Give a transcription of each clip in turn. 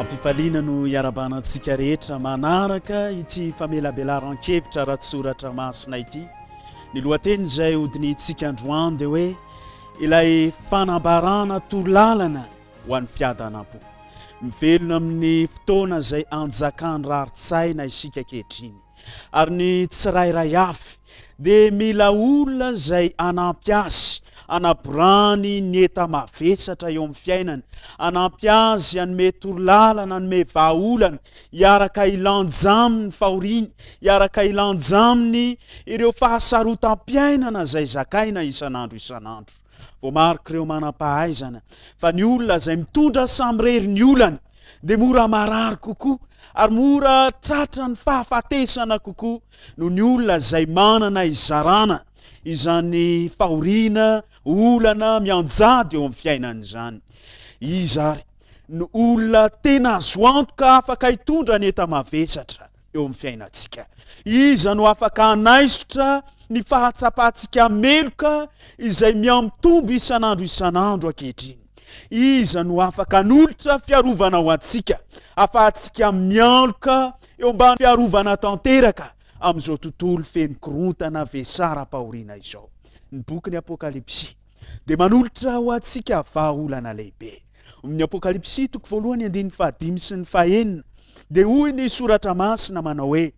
Ampifaliana no iarabana antsika rehetra manaraka ity famelabelaran-kevitra ara-tsoratra masina ity. Ny lohateny izay hodinihintsika androany dia hoe ilay fanambarana torolalana ho an'ny fiadanam-po. Mivelona amin'ny fotoana izay anjakan'ny rarin-tsaina isika ankehitriny. Ary ny tsirairay avy dia mila olona izay hanampy azy hanaborany ny enta-mavesatra eo amin'ny fiainany, hanampy azy hanome torolalana, hanome vahaolana, hiaraka hilanja aminy fahoriany, hiaraka hilanja aminy ireo fahasarotam-piainana izay zakaina isan'andro isan'andro. Voamarik'ireo manam-pahaizana fa ny olona izay mitondra samirery ny olany dia mora marary kokoa ary mora tratra ny fahafatesana kokoa noho ny olona izay manana izarana izany fahoriana olana mianjady eo amin'ny fiainana izany izy ary ny olona tena azo antoka afaka hitondra ny eta-mavesatra eo amin'ny fiainantsika. Iza no afaka hanaisotra ny fahatsapantsika meloka izay mihamitombo isan'andro isan'andro ankehitriny? Iza no afaka hanolotra fiarovana ho antsika afahantsika mialoka eo ambany fiarovana tanteraka amin'izao tontolo feno korontana vesaram-pahoriana izao? Ny bokin'ny Apokalypsy. dia manolotra ho antsika vahaolana lehibe. Amin'ny Apokalypsy toko voalohany andininy fahadimy sy ny fahenina dia hoy ny soratra masina manao hoe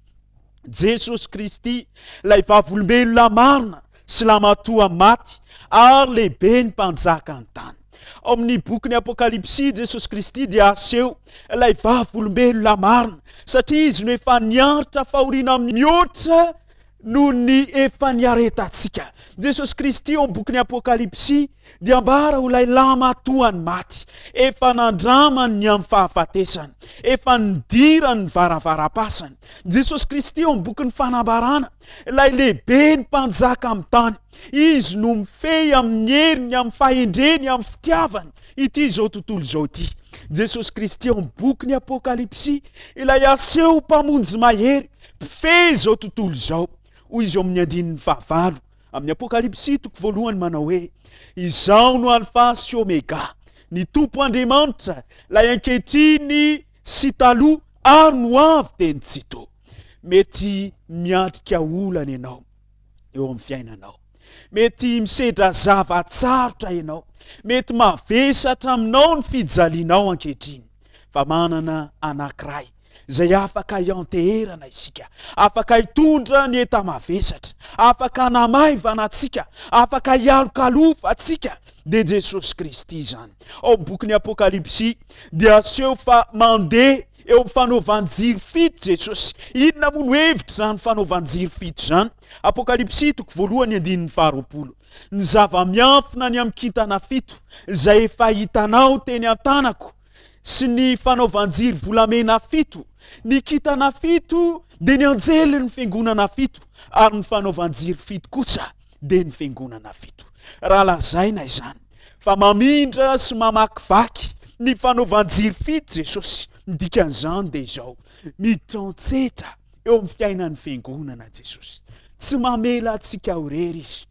Jesosy Kristy ilay vavolombelona marina sy lamatoa maty ary lehibe ny mpanjaka ny tany. Ao amin'ny bokin'ny Apokalypsy, Jesosy Kristy dia aseho ilay vavolombelona marina, satria izy no efa niaritra fahoriana mihoatra noho ny efa niaretantsika. Jesosy Kristy ao bokin'ny Apokalypsy dia ambara ho ilay lamatoan'ny maty, efa nandramany ny amin'ny fahafatesana, efa nidirany ny varavaram-pasana. Jesosy Kristy ao bokin'ny fanambarana, ilay lehibe ny mpanjaka amin'ny tany. Izy no mifehy amin'ny heriny, amin'ny fahendreny, amin'ny fitiavany ity izao tontolo izao ity. Jesosy Kristy ao bokin'ny Apokalypsy, ilay aseho mpamonjy mahery, Mpifehy izao tontolo izao, hoy izy ao amin'ny andininy fahavalo amin'ny Apokalypsy toko voalohany manao hoe, Izaho no Alfa sy Omega, ny Tompo Andriamanitra, ilay ankehitriny sy taloha ary no ho avy dia ny Tsito. Mety miatrika olana ianao eo amin'ny fiainanao. Mety misedra zava-tsarotra ianao. Mety mavesatra aminao ny fijalianao ankehitriny. Fa manana anankiray izay afaka hianteherana isika, afaka hitondra ny enta-mavesatra, afaka namaivana antsika, afaka hialokalofa antsika, dia Jesosy Kristy izany. Ao amin'ny bokin'ny Apokalypsy dia aseho fa mandeha eo amin'ny fanaovan-jiro fito Jesosy. Inona moa no hevitra izany fanaovan-jiro fito izany? Apokalypsy toko voalohany andininy faharoapolo. Ny zava-miafina ny amin'ny kintana fito izay efa hitanao teny an-tanako sy ny fanaovan-jiro volamena fito, ny kitana fito dia ny anjelin'ny fiangonana fito, ary ny fanaovan-jiro fito kosa dia ny fiangonana fito. Raha lazaina izany fa mamindra sy mamakivaky ny fanaovan-jiro fito Jesosy, ny dikan'izany dia izao, mitantsetra eo amin'ny fiainan'ny fiangonana Jesosy. Tsy mamela antsika ho rery izy.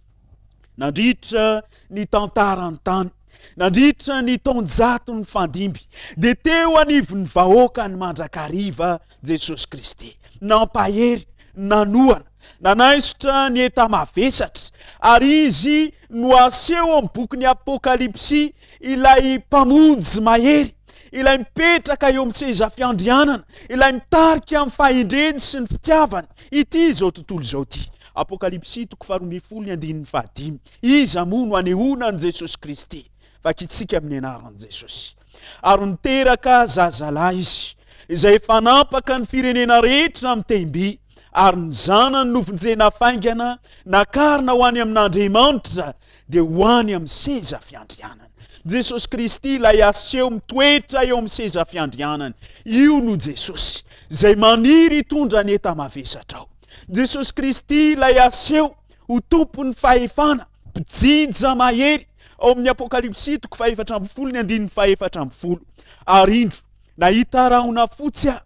nandritra ny tantarany tany nandritra ny taonjato ny fandimby dia teo anivon'ny vahoaka ny mandrakariva jesosy kristy nampahery nanohana nanaisotra ny eta mavesatra ary izy no aseho amin'ny bokin'ny apokalypsy ilay mpamonjy mahery ilay mipetraka eo amin'ny sezafiandrianana ilay mitarika amin'ny fahendreny sy ny fitiavany ity izao tontolo izao ity Apokalypsy toko faharoa ambin'ny folo ny andininy fahadimy. Iza moa no anehoana an'i Jesosy Kristy? Vakintsika amin'ny anaran'i Jesosy. Ary niteraka zazalahy izy, izay efa nampaka ny firenena rehetra amin'ny tehim-by, ary ny zanany novonjena faingana, nakarina ho any amin'Andriamanitra, dia ho any amin'ny seza fiandrianany. Jesosy Kristy ilay aseho mitoetra eo amin'ny seza fiandrianany. Io no Jesosy, izay maniry hitondra ny enta-mavesatra ao. Jesosy Kristy ilay aseho ho tompon'ny fahefana, mpijinja mahery ao amin'ny Apokalypsy toko fahefatra ambin'ny folo ny andininy fahefatra ambin'ny folo. Ary indro, nahita rahona fotsy aho,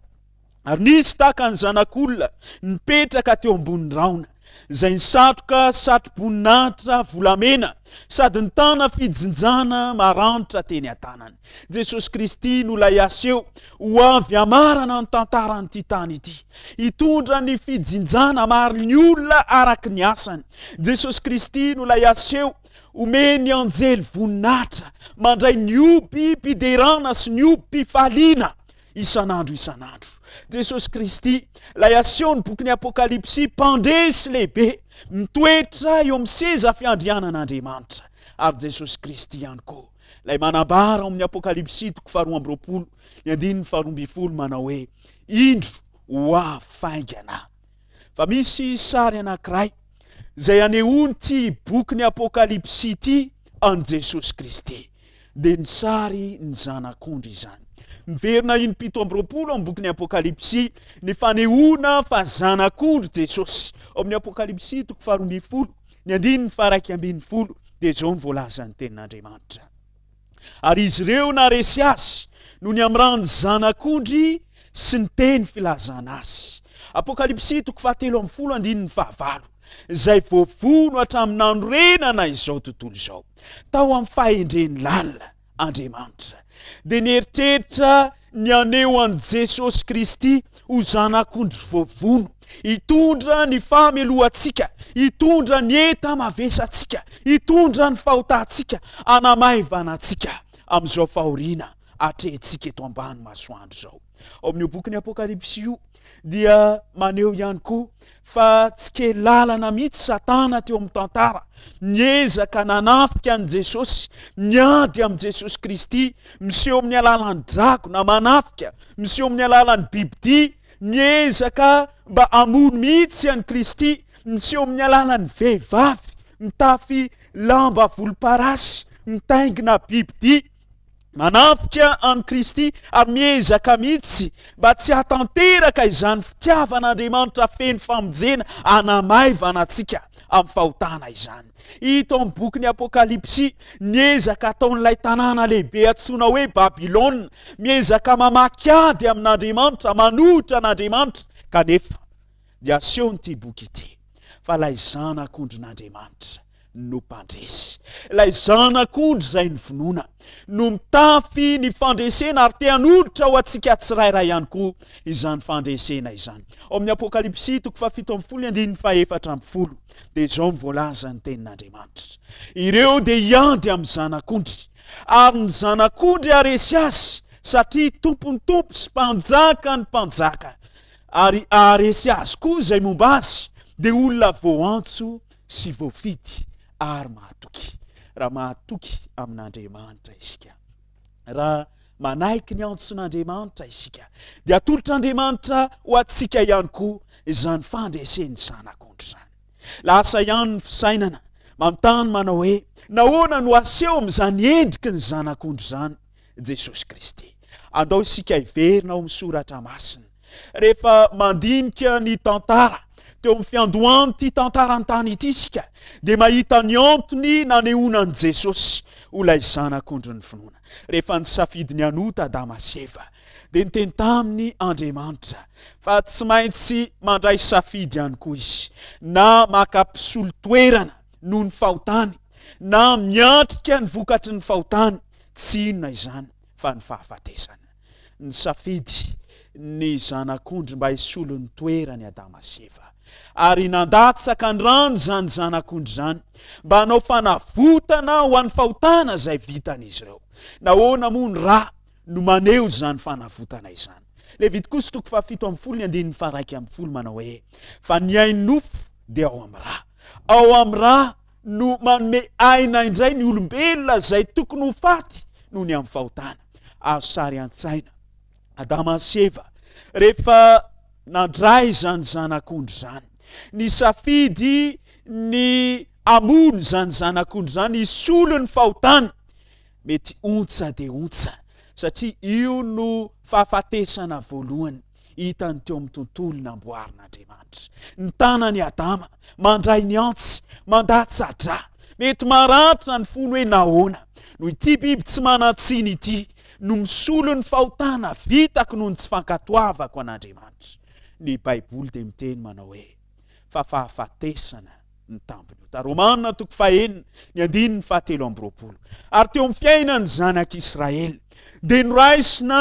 ary nisy tahaka ny zanak'olona nipetraka teo ambonin'ny rahona, izay nisatroka satroboninahitra volamena sady nitana fijinjana maranitra teny an-tanany. Jesosy Kristy no ilay aseho ho avy hamarana ny tantaran'ity tany ity. Hitondra ny fijinjana maro ny olona araka ny asany. Jesosy Kristy no ilay aseho omen'ny anjely voninahitra mandray ny obim-piderana sy ny obim-pifaliana isan'andro isan'andro. Jesosy Kristy, ilay asehon'ny bokin'ny Apokalypsy, mpandresy lehibe, mitoetra eo amin'ny seza fiandrianan'Andriamanitra, ary Jesosy Kristy ihany koa. Ilay manambara ao amin'ny Apokalypsy toko faharoa amby roapolo ny andininy faharoa ambin'ny folo manao hoe indro ho afaingana. Fa misy sary anankiray izay anehoan'ity boky ny Apokalypsy ity an'i Jesosy Kristy. Dia ny sary ny zanak'ondry izany. Miverina iny pito amby roapolo amin'ny bokin'ny Apokalypsy ny fanehoana fa zanak'ondry Jesosy. Ao amin'ny Apokalypsy toko faharoa ambin'ny folo Ny andininy faharaika ambin'ny folo dia izao ny voalazan'ny tenin'Andriamanitra. Ary izy ireo naresy azy no ny amrany zanak'ondry sy ny teny filazana azy. Apokalypsy toko fahatelo amin'ny folo andininy fahavalo izay voavono hatramin'ny nanorenana izao tontolo izao tao amin'ny fahendreny lalina Andriamanitra, dia nieritreritra ny haneho an'i Jesosy Kristy ho Zanak'ondry voavono, hitondra ny famelohantsika, hitondra ny enta-mavesantsika, hitondra ny fahotantsika, hanamaivana antsika amin'izao fahoriana atrehintsika eto ambany masoandro izao. ao amin'io bokin'ny apokalypsy io dia maneho ihany koa fa tsy ke lalana mihitsy satana teo amin'ny tantara niezaka nanafika an'i jesosy niady amin'i jesosy kristy miseho amin'ny alalan'ny drago na manafika miseho amin'ny alalan'ny bibidi miezaka mba amono mihitsy an'i kristy miseho amin'ny alalan'ny vehivavy mitafy lamba volomparasy mitaingina bibidi Manafika an'i Kristy ary miezaka mihitsy mba tsy hatanteraka izany fitiavan'Andriamanitra feno famonjena anamaivana antsika amin'ny fahotana izany. Hita amin'ny bokin'ny Apokalypsy ny ezaka ataon'ilay tanàna lehibe antsoina hoe Babylona, miezaka mamaky ady amin'Andriamanitra, manohitra an'Andriamanitra, kanefa dia asehon'ity boky ity fa ilay zanak'ondrin'Andriamanitra no mpandresy. Ilay Zanak'ondry izay novonoina no mitafy ny fandresena ary te hanolotra ho antsika tsirairay ihany koa izany fandresena izany. Ao amin'ny Apokalypsy toko fahafito ambin'ny folo andininy fahefatra ambin'ny folo dia izao no voalazan'ny tenin'Andriamanitra. Ireo dia hiady amin'ny Zanak'ondry ary ny Zanak'ondry haresy azy satria tompon'ny tompo sy mpanjaka ny mpanjaka ary haharesy azy koa izay momba azy dia olona voantso sy voafidy ary mahatoky. Raha mahatoky amin'Andriamanitra isika, raha manaiky ny antson'Andriamanitra isika, dia atolotr'Andriamanitra ho antsika ihany koa izany fandresen'ny zanak'ondry izany. Lasa ihany ny fisainana manontany manao hoe nahoana no aseho amin'izany endriky ny zanak'ondry izany Jesosy Kristy. Andao isika hiverina ao amin'ny soratra masina. Rehefa mandinika ny tantara teo amin'ny fiandohan'ity tantarantany ity isika, dia mahita ny antony nanehoana an'i Jesosy ho ilay zanak'ondrin'ny finoana. Rehefa nisafidy ny hanota Adama sy Eva, dia niteny taminy Andriamanitra fa tsy maintsy mandray safidy ihany koa izy, na maka mpisolo toerana noho ny fahotany na miatrika ny vokatry ny fahotany, tsy inona izany fa ny fahafatesana. Nisafidy ny Zanak'ondry mba hisolo ny toeran'i Adama sy Eva, ary nandatsaka ny rany izany Zanak'ondry izany mba hanao fanavotana ho an'ny fahotana izay vitan'izy ireo. Nahoana moa ny ra no maneho izany fanavotana izany. Levitikosy toko fahafito ambin'ny folo ny andininy faharaika ambin'ny folo manao hoe fa ny ainofo dia ao amin'ny ra. Ao amin'ny ra no manome aina indray ny olombelona izay tokony ho faty noho ny amin'ny fahotana. Azo sary an-tsaina Adama sy Eva rehefa nandray izany zanak'ondry izany. Ny safidy ny amono izany zanak'ondry izany hisolo ny fahotana mety ontsa dia ontsa, satria io no fahafatesana voalohany hitan'ny teo amin'ny tontolo namboarin'Andriamanitra. Ny tanan'i Adama mandray ny antsy, mandatsa-dra. Mety maratra ny fony hoe nahoana no ity biby tsy manan-tsiny ity no misolo ny fahotana vitako noho ny tsy fankatoavako an'Andriamanitra. Ny Baiboly dia miteny manao hoe fa fahafatesana ny tampony ota romana toko fahenina ny andininy fahatelo amby roapolo ary teo amin'ny fiainany zanak'i israely dia noraisina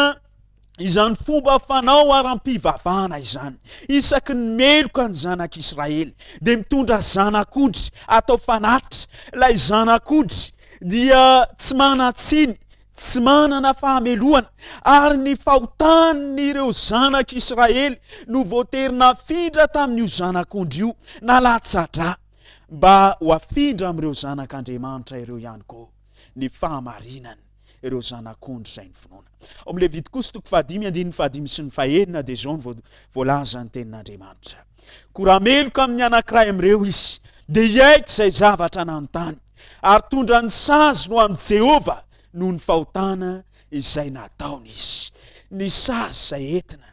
izany fomba fanao ara-pivavahana izany isaky ny meloka ny zanak'i israely dia mitondra zanak'odry atao fanatitra ilay zanak'odry dia tsy manatsiny tsy manana fahamelohana, ary ny fahotan'ireo zanak'Israely no voatery nafindra tamin'io zanak'ondry io, na latsa-drà, mba ho afindra amin'ireo zanak'Andriamanitra ireo ihany koa ny fahamarinany, ireo zanak'ondry izay nifinoana. Ao amin'ny Levitikosa toko fahadimy, andininy fahadimy sy ny fahenina dia izao no voalaza ny tenin'Andriamanitra. Koa raha meloka amin'ny anankiray amin'ireo izy, dia hiaiky izay zavatra nanontany, ary tondra ny sazy ho an'i Jehovah noho ny fahotana izay nataony izy. Ny sazy izay entina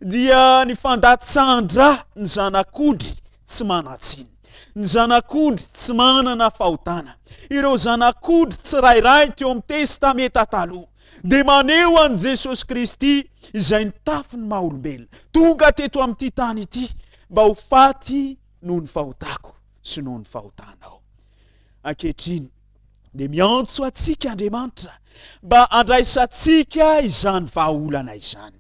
dia ny fandatsahan-dra ny zanak'ondry tsy manan-tsiny, ny zanak'ondry tsy manana fahotana, ireo zanak'ondry tsirairay teo amin'ny Testamenta Taloha. dia maneho an'i Jesosy Kristy izay nitafy ny maha-olombelona, tonga teto amin'ity tany ity mba ho faty noho ny fahotako sy noho ny fahotanao. Ankehitriny dia miantso antsika Andriamanitra mba handraisantsika izany vahaolana izany.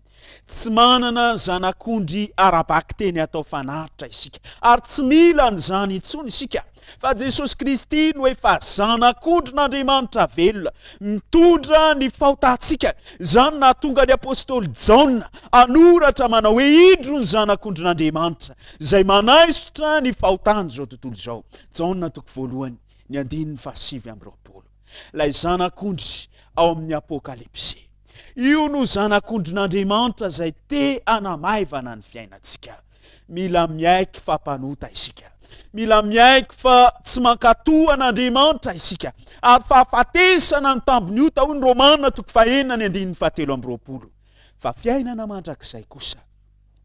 Tsy manana zanak'ondry ara-bakiteny atao fanatitra isika, ary tsy mila an'izany intsony isika, fa Jesosy Kristy no efa zanak'ondrin'Andriamanitra velona, mitondra ny fahotantsika. Izany nahatonga ny apostoly Jaona hanoratra manao hoe, Indro ny zanak'ondrin'Andriamanitra, izay manaisotra ny fahotan'izao tontolo izao. Jaona toko voalohany, ny andininy fahasivy amby roapolo. ilay Zanak'ondry ao amin'ny Apokalypsy. Io no Zanak'ondrin'Andriamanitra izay te hanamaivana ny fiainantsika. Mila miaiky fa mpanota isika. Mila miaiky fa tsy mankatò an'Andriamanitra isika. Ary fahafatesana ny tambin'ny ota, hoy ny Romana toko fahenina ny andininy fahatelo amby roapolo. Fa fiainana mandrakizay kosa.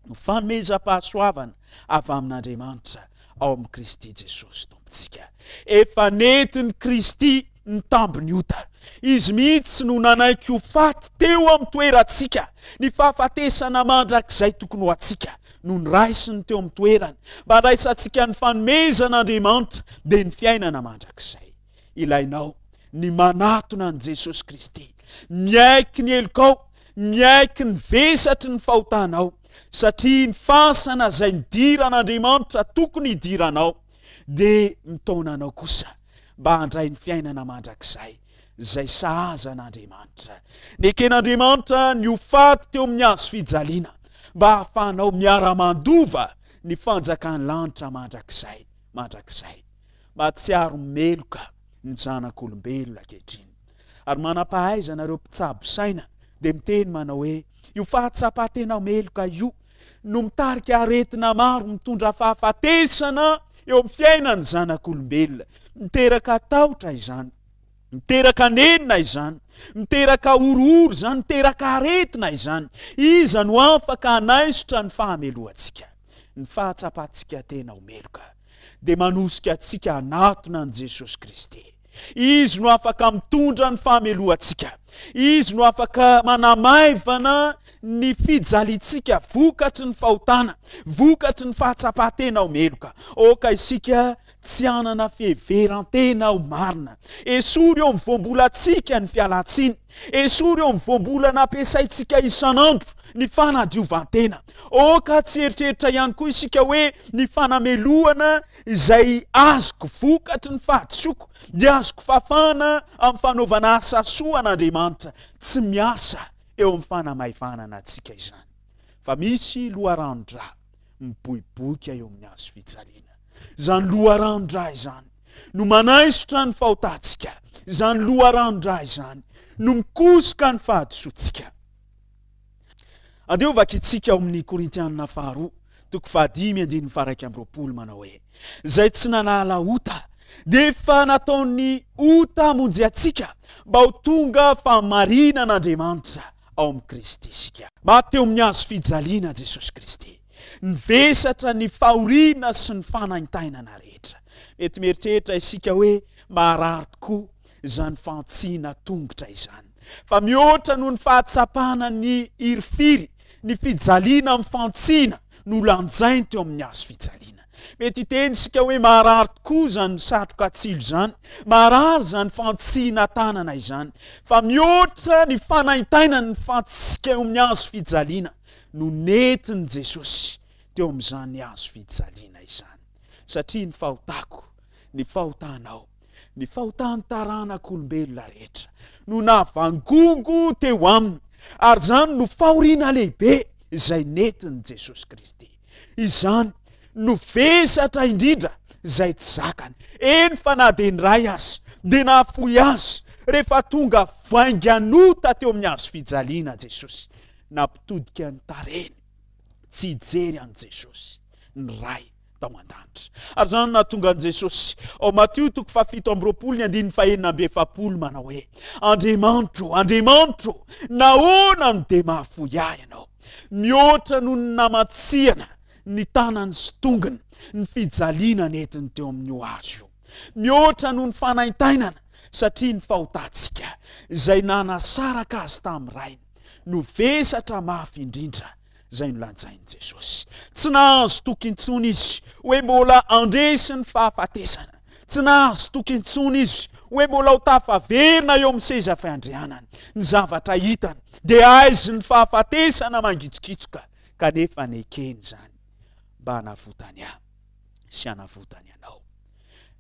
no famezam-pahasoavana avy amin'Andriamanitra ao amin'i Kristy Jesosy Tompontsika. Efa nentin'i Kristy ny tambin'ny ota. Izy mihitsy no nanaiky ho faty teo amin'ny toerantsika. Ny fahafatesana mandrakizay tokony ho antsika no niraisiny teo amin'ny toerany mba handraisantsika ny fanomezan'Andriamanitra dia ny fiainana mandrakizay. ilainao ny manatona an'i Jesosy Kristy. Miaiky ny helokao, miaiky ny vesatry ny fahotanao, satria ny fasana izay nidiran'Andriamanitra tokony hidiranao, dia mitaona anao kosa mba handray ny fiainana mandrakizay izay sahaza an'Andriamanitra. Neken'Andriamanitra ny ho faty teo amin'ny hazo fijaliana mba hahafahanao miara-mandova ny fanjakan'ny lanitra mandrakizay, mandrakizay. Mahatsiaro meloka ny zanak'olombelona ankehitriny. Ary manam-pahaizana ireo mpitsabo saina dia miteny manao hoe io fahatsapan-tena meloka io no mitarika aretina maro mitondra fahafatesana eo amin'ny fiainan'ny zanak'olombelona. Miteraka tahotra izany, miteraka nenina izany, miteraka horohoro izany, miteraka aretina izany. Iza no afaka hanaisotra ny fahamelohantsika, ny fahatsapantsika tena ho meloka? dia manosika antsika hanatona an'i Jesosy Kristy. Izy no afaka mitondra ny famelohantsika. Izy no afaka manamaivana ny fijaliantsika vokatry ny fahotana, vokatry ny fahatsapan-tena ho meloka. Aoka isika tsy hanana fiheveran-tena ho marina. Esory eo amin'ny voambolantsika ny fialantsiny. Esory eo amin'ny voambolana ampiasaintsika isan'andro ny fanadiovan-tena. Aoka tsy hieritreritra ihany koa isika hoe ny fanamelohana izay azoko vokatry ny fahadisoako dia azoko fafana amin'ny fanaovana asa soa an'Andriamanitra. Tsy miasa eo amin'ny fanamaivanana antsika izany, fa misy loharanon-dra miboiboika eo amin'ny hazo fijaliana. Izany loharanon-dra izany no manaisotra ny fahotantsika, izany loharanon-dra izany no mikosoka ny fahadisoantsika. Andeho vakintsika ao amin'ny Korintianina faharoa, toko fahadimy andininy faharaika amby roapolo manao hoe, izay tsy nanala ota, dia efa nataon'ny ota monjy antsika mba ho tonga fahamarinan'Andriamanitra ao amin'i Kristy isika. Maty teo amin'ny hazo fijaliana Jesosy Kristy. Nivesatra ny fahoriana sy ny fanaintainana rehetra. Mety mieritreritra isika hoe maharary tokoa izany fantsihina tongotra izany. Fa mihoatra noho ny fahatsapana ny hirifiry, ny fijaliana amin'ny fantsihina no lanjainy teo amin'ny hazo fijaliana. Mety hiteny isika hoe maharary tokoa izany satroka tsilo izany, maharary izany fantsihina tanana izany. Fa mihoatra ny fanaintainan'ny fantsika eo amin'ny hazo fijaliana. no nentin'i Jesosy teo amin'izany hazo fijaliana izany, satria ny fahotako, ny fahotanao, ny fahotan'ny taranak'olombelona rehetra no navangongo teo Aminy, ary izany no fahoriana lehibe izay nentin'i Jesosy Kristy. Izany no vesatra indrindra izay tsy zakany, eny fa na dia niray aza, dia nahafoy azy rehefa tonga vainganota teo amin'ny hazo fijaliana Jesosy. Nampitodika ny tarehiny tsy hijery an'i Jesosy ny Ray tao an-danitra. Ary izany no nahatonga an'i Jesosy ao Matio toko fahafito amby roapolo ny andininy fahenina amby efapolo manao hoe, Andriamanitro, Andriamanitro, nahoana no dia mahafoy ahy ianao? Mihoatra noho ny namatsihana ny tanany sy tongony ny fijaliana nentiny teo amin'ny hoazy io. mihoatra noho ny fanaintainana, satria ny fahotantsika, izay nanasaraka azy tamin'ny rainy, no vesatra mafy indrindra, izay nolazain'i Jesosy. Tsy nahazo toky intsony izy hoe mbola handresy ny fahafatesana. Tsy nahazo toky intsony izy hoe mbola ho tafaverina eo amin'ny seza fiandrianany. Ny zavatra hitany dia aizy ny fahafatesana mangitsokitsoka, kanefa nekeny izany mba hanavotany ahy. sy hanavotany anao.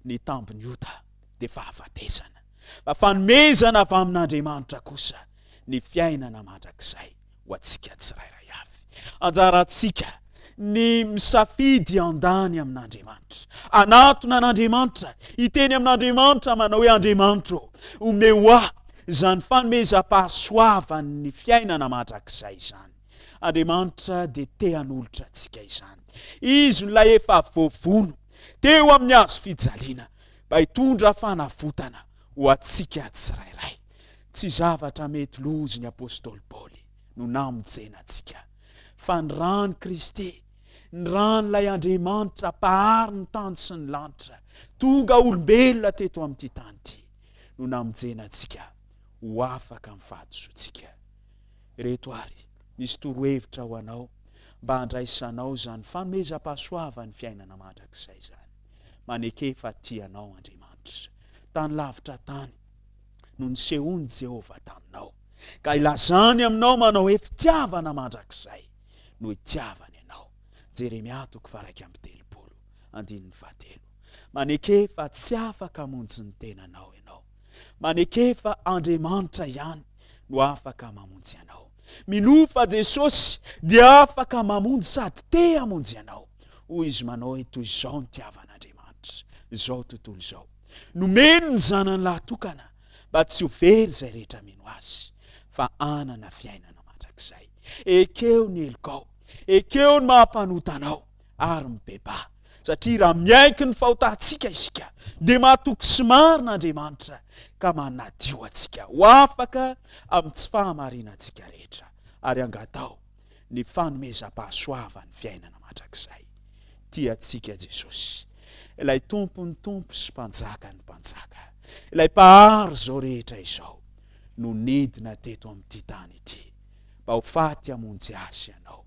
Ny tambin'ny ota dia fahafatesana, fa fanomezana avy amin'Andriamanitra kosa ny fiainana mandrakizay ho antsika tsirairay avy. Anjarantsika ny misafidy handany amin'Andriamanitra, hanatona an'Andriamanitra, hiteny amin'Andriamanitra manao hoe Andriamanitra ô, omeo ahy izany fanomezam-pahasoavan'ny fiainana mandrakizay izany. Andriamanitra dia te hanolotra antsika izany. Izy no ilay efa voavono teo amin'ny hazo fijaliana mba hitondra fanavotana ho antsika tsirairay. Tsy zavatra mety lozy ny apostoly Paoly no namonjena antsika, fa ny ràn'i Kristy, ny ràn'ilay Andriamanitra mpahary ny tany sy ny lanitra, tonga olombelona teto amin'ity tany ity, no namonjena antsika ho afaka amin'ny fahadisoantsika. Ireto ary misy torohevitra ho anao mba handraisanao izany fanomezam-pahasoavan'ny fiainana mandrakizay izany. Maneke fa tia anao Andriamanitra. Tany lavitra tany no nisehoan'i Jehovah taminao, ka ilazany aminao manao hoe fitiavana mandrakizay no itiavany anao. Jeremia toko faharaika amby telopolo, andininy fahatelo. Maneke fa tsy afaka hamonjy ny tenanao ianao. Maneke fa Andriamanitra ihany no afaka mamonjy anao. Minoa fa Jesosy dia afaka mamonjy sady te hamonjy anao. Hoy izy manao hoe toy izao ny tiavan'Andriamanitra izao tontolo izao. Nomeny ny zanany lahy tokana mba tsy ho very izay rehetra mino azy fa hanana fiainana mandrakizay. Ekeo ny helokao. Ekeo ny maha-mpanota anao. ary mibebaha. Satria raha miaiky ny fahotantsika isika, dia mahatoky sy marina Andriamanitra ka manadio antsika ho afaka amin'ny tsy fahamarinantsika rehetra, ary angataho ny fanomezam-pahasoavan'ny fiainana mandrakizay. Tia antsika Jesosy, ilay Tompon'ny Tompo sy Mpanjakan'ny Mpanjaka, ilay Mpahary izao rehetra izao, no nidina teto amin'ity tany ity mba ho faty hamonjy azy ianao.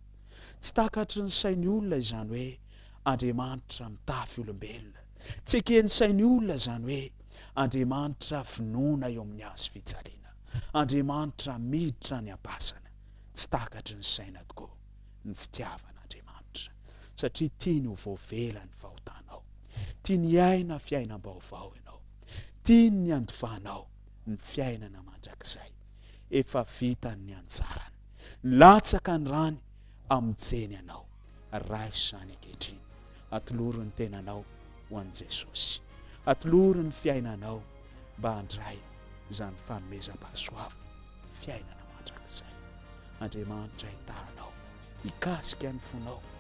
Tsy takatry ny sain'ny olona izany hoe Andriamanitra mitafy olombelona. Tsy eken'ny sain'ny olona izany hoe Andriamanitra finoana eo amin'ny hazo fijaliana, Andriamanitra miditra any am-pasana. Tsy takatry ny saina tokoa ny fitiavan'Andriamanitra, satria tiany ho voavela ny fahotanao. Tiany hiaina fiainam-baovao ianao. Tiany ny handovanao ny fiainana mandrakizay. Efa vitany ny anjarany. Latsaka ny rany amin'ny tseny anao. Raiso izany ankehitriny. Atoloro ny tenanao ho an'i Jesosy. Atoloro ny fiainanao mba handray izany fanomezam-pahasoavana fiainana mandrakizay. Andriamanitra hitaha anao, hikasika ny fonao.